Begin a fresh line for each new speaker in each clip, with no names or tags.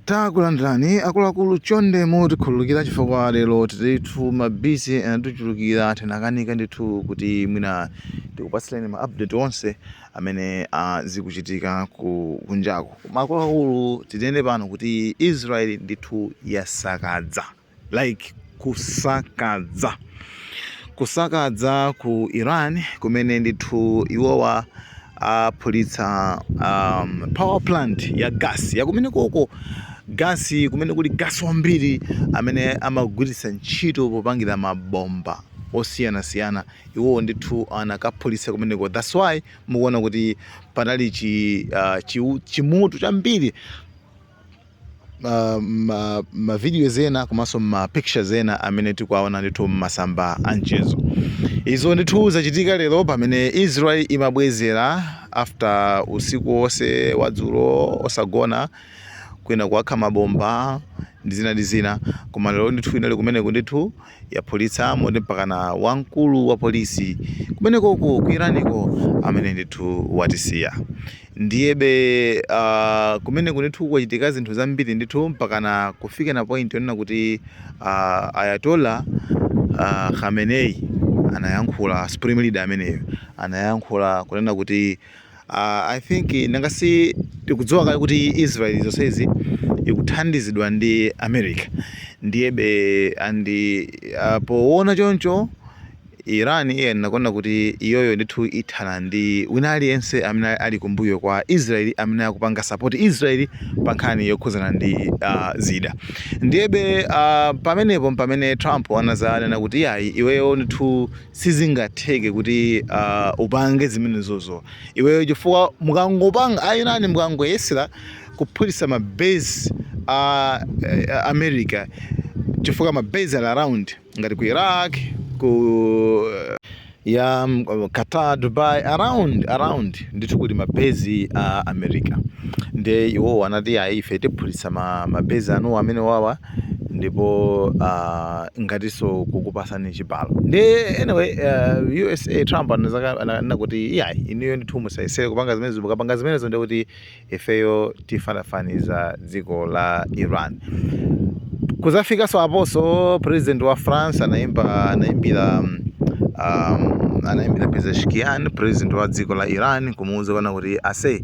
Takulandirani akuluakulu chonde mutikhululukira chifukwa lero tilitu ma busy anatichulukira tinakanika ndithu kuti mwina tikupatsileni ma update onse amene ah, zikuchitika ku kunjaku koma akuluakulu tinene pano kuti Israel ndithu yasakadza like kusakadza kusakadza ku iran kumene ndithu iwowa aphulitsa um, power plant ya gas yakumene koko gasi kumene kuli gasi wambiri amene amagwiritsa ntchito popangira mabomba osiyanasiyana iwowo ndithu anakaphulitsa kumeneko thats why mukuona kuti panali chi, uh, chi, chimoto chambiri uh, ma, ma videos ena komanso ma pictures ena amene tikuwaona ndithu m'masamba a mchezo izo ndithu zachitika lero pamene israel imabwezera after usiku wonse wadzulo osagona kwina kuwakha mabomba ndi zina ndi zina koma lero ndithu inali kumeneko ndithu yaphulitsa moti mpakana wamkulu wa polisi kumenekoko ku iraniko amene ndithu watisiya ndiyebe uh, kumeneko ndithu kwachitika zinthu zambiri ndithu mpakana kufika na point yonena kuti uh, ayatollah uh, khamenei anayankhula supreme leader ameneyo anayankhula kunena kuti Uh, I think nanga si tikudziwa kale kuti Israel zonsezi ikuthandizidwa ndi America ndiyebe and uh, poona choncho Iran iye inanena kuti iyoyo ndithu ithana ndi wina aliyense amene ali kumbuyo kwa Israel amene akupanga support Israel pa nkhani yokhudzana ndi uh, zida ndiyebe uh, pamenepo mpamene Trump anazanena kuti iyayi iweyo ndithu sizingatheke kuti uh, upange zimenezozo iweyo chifukwa mukangopanga a iran mukangoyesera kuphulisa ma base a uh, america chifukwa ma base ali around ngati ku iraq ku uh, ya um, qatar dubai around around ndithu kuli ma base a uh, america nde iwowo anati ayi ife tiphulisa ma, ma base anuwo amenewawa ndipo uh, ngatinso kukupasani chibalo nde anyway uh, usa trump ananena kuti iyayi inuyo ndithu musayesere kupanga zimenezo mukapanga zimenezo ndiye kuti ifeyo tifanafaniza dziko la iran kuzafikanso aposo president wa france anaimba anaimbira um, um, anayimbira pezeshkian president wa dziko la iran kumuwuza kuti ase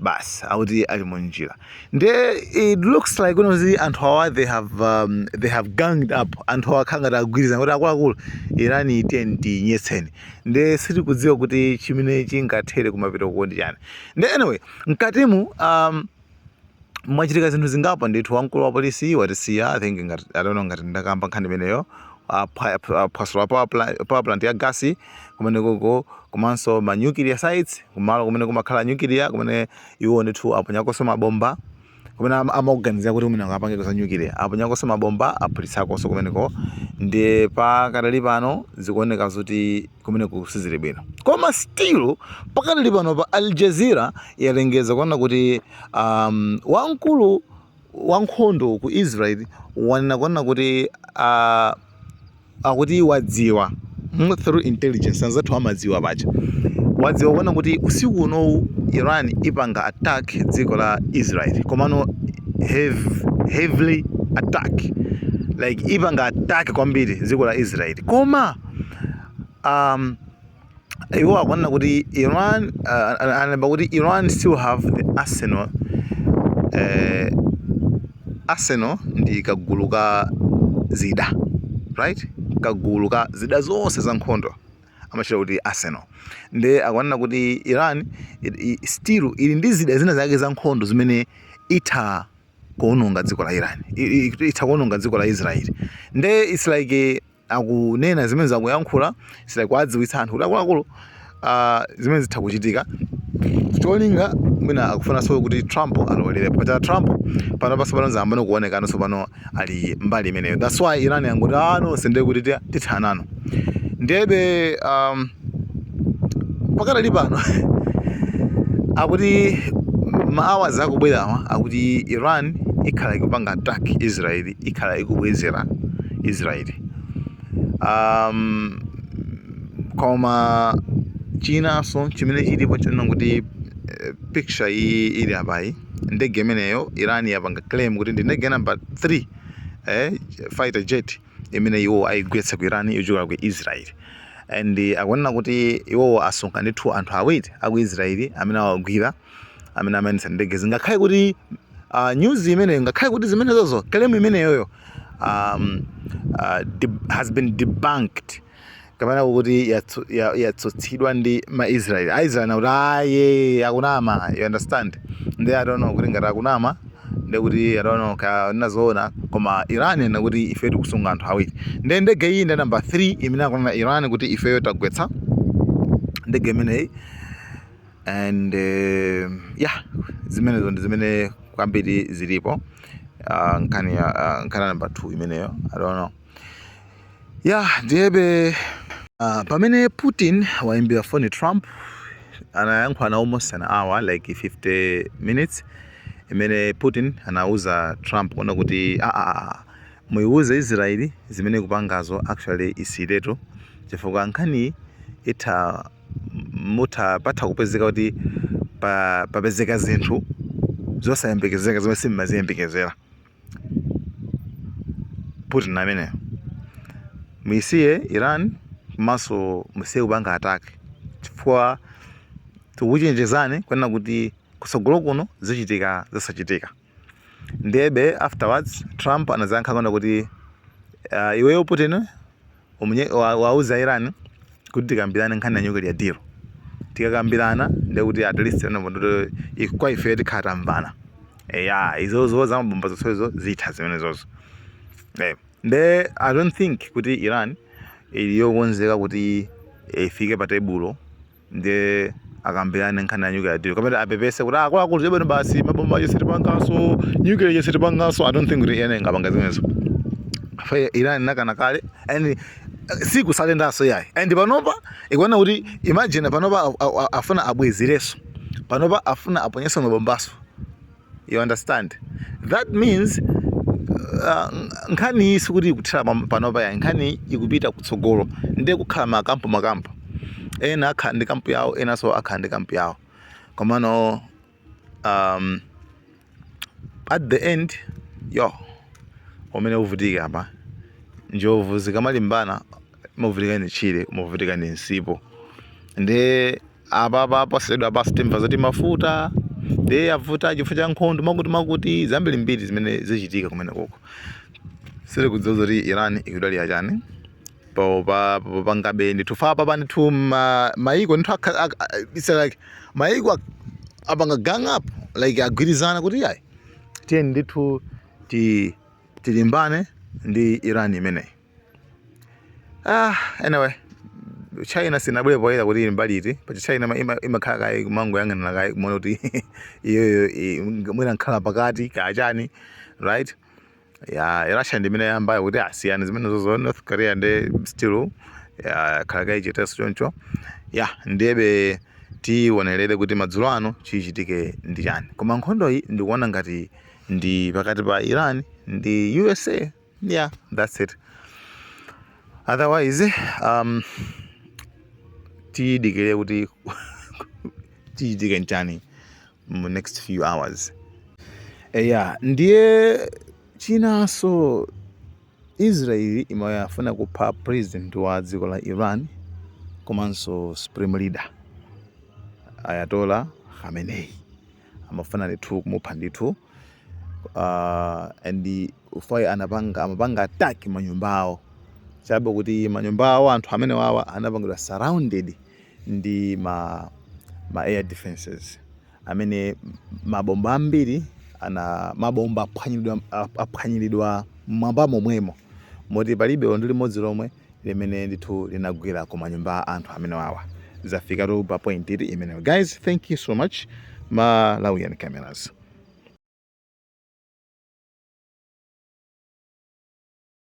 basi akuti ali mu njira nde it looks like kuno kuti anthu awa they have um, they have ganged up anthu awa akhala ngati agwirizana kuti akuluakulu Irani tiyeni tiyinyetseni nde sitikudziwa kuti chimene chingathere kumapeto kwake ndi chani nde anyway mkatimu um, mwachitika zinthu zingapo ndithu wamkulu wa polisi watisiya i think ngati i don't know ngati ndakamba nkhani imeneyo aphwasula power plant- power plant ya gasi kumenekoko komanso ma nuclear sites kumalo kumene kumakhala nuclear kumene iwo ndithu aponyakonso mabomba kumene ama- amakuganizira kuti mwina akapangeko za nuclear aponyakonso mabomba aphulitsakonso kumeneko nde pakadali pano zikuoneka zoti kumeneko sizili bwino koma still pakadali pano pa al jazeera yalengeza kunena kuti um, wamkulu wankhondo ku Israel wanena kunena kuti uh, akuti wadziwa mm, through intelligence anzathu amadziwa paja wadziwa kunena kuti usiku unowu Iran ipanga attack dziko la Israel komano heavy, heavily attack like ipanga attack kwambiri dziko la Israel koma um, iwo akunena kuti Iran uh, alemba kuti Iran still have the arsenal uh, arsenal ndi kagulu ka zida right kagulu ka zida zonse za nkhondo amazitcha kuti arsenal nde akunena kuti iran still ili ndi zida zina zake za nkhondo zimene itha kuononga dziko la iran itha kuononga dziko la israel nde its like akunena zimenezo akuyankhula it's like kuwadziwitsa anthu kuti akuluakulu ah, zimene zitha kuchitika cholinga mwina akufunanso kuti trump alolerepo paja trump pano pansopano zambano akuonekano tsopano ali mbali imeneyo thats why iran yangoti a ah, nonse ndiye kuti ti- tithanenu ndiyebe um, pakadali pano akuti maawa akubwerawa akuti iran ikhala ikupanga attack israel ikhala ikubwezera Israeli. Um, koma chinanso chimene chilipo nchonena kuti eh, picture iyi ili apayi ndege imeneyo irani yapanga claim kuti ndi ndege namba 3 eh, fighter jet imene iwo ayigwetsa ku irani yochokera ku israeli and akunena kuti iwowo asunga ndithu anthu awiri aku israeli amene awagwira amene amayendetsa ndegezi ngakhale kuti uh, news imeneyo ngakhale kuti zimenezozo claim imeneyoyo um, uh, has been debunked kapena kuti yatsutsidwa ya, ya ndi maisraeli aisraeli akuti ayi akunama you understand nde I don't know kuti ngati akunama ndekuti I don't know kaya nzoona koma iran ikuti ife tikusunga anthu awiri nde ndege iyi ndi namba 3 imene akunena iran kuti ifeyo tagwetsa ndege imeneyi and uh, yeah zimenezo ndi zimene kwambiri zilipo uh, nkhani ya uh, nkhani namba 2 imeneyo i don't know yeah ndiyebe uh, pamene putin waimbira foni trump anayankhulana almost an hour like 50 minutes imene putin anauza trump kunena kuti aa ah, ah, ah, muiwuze israeli zimene kupangazo actually isiyiretu chifukwa nkhani itha mutha patha kupezeka kuti pa, papezeka zinthu zosayembekezeka zomwe simmaziyembekezera putin ameneyo muisiye iran komanso musiye kupanga attack chifukwa tikuchenjezani kunena kuti kusogolo kuno zichitika zosachitika Ndiyebe afterwards Trump anazayankha kunena kuti uh, iweyo Putin uwauze a Iran kuti tikambirane nkhani ya nuclear deal. Tikakambirana ndiye kuti at least kuti kwa ife tikhala tamvana. Eya, izozo zamabomba zonsezo zitha zimenezozo. Eh, nde I don't think kuti Iran ili yokonzeka kuti ifike pa tebulo ndiye akambirane nkhani ya nuclear deal kapena apepese kuti akuluakulu chabwino basi mabomba aja sitipanganso nuclear ija sitipanganso i don't think kuti Iran ingapange zimenezo chifukwa iran inakana kale and sikusarendanso yayi and panopa ikunena kuti imagine panopa afuna abwezireso panopa afuna aponyeso mabombaso you understand that means uh, nkhani sikuti ikuthera panopa yayi nkhani ikupita kutsogolo ndiye kukhala makampu makampu ena akhala ndi kampu yawo enanso akhala ndi kampu yawo komano um, at the end yo amene avutike apa njovu zikamalimbana imavutika ndi tchire umavutika ndi msipu ndi Apapa posachedwapa basi timva zoti mafuta ndiye avuta chifukwa cha nkhondo mwakuti mwakuti zambiri mbiri zimene zichitika kumene koko sindikudziwa zoti Iran ikudalira chani popa popangabe ndithu chifukwa apapa ndithu ma- maiko ndithu akha- ak- ak- it's like maiko ak- apanga gang up like agwirizana kuti yayi tiyeni ndithu ti tilimbane ndi Iran imeneyi ah anyway china sinabwere poyera kuti ili mbali iti pacha china ima- ima- imakhala kaye kumangoyang'anira kaye kumaona kuti iyoyo i- mwina imakhala pakati kachani right ya russia ndi imene yayambayo kuti tasiyani zimene zozo north korea ndi still ya, khala kaye chetenso choncho ya ndiyebe tiwonerere kuti madzulo ano chichitike ndi chani koma nkhondoyi ndikuona ngati ndi pakati pa iran ndi usa yeah that's it otherwise um tidikire kuti chichitike nchani mu next few hours eya ndiye chinanso israeli imayafuna kupha president wa dziko la iran komanso supreme leader ayatola khamenei amafuna ndithu kumupha ndithu uh, and if I anapanga amapanga attack manyumba awo chabe kuti manyumba awo anthu amene wawa anapangidwa surrounded ndi ma, ma air defenses amene mabomba ambiri ana mabomba aphwanyilidwa mmwamba momwemo moti palibe ndi limodzi lomwe limene ndithu linagwera ku manyumba a anthu amene wawa zafikatu pa point imeneyo guys thank you so much malawian cameras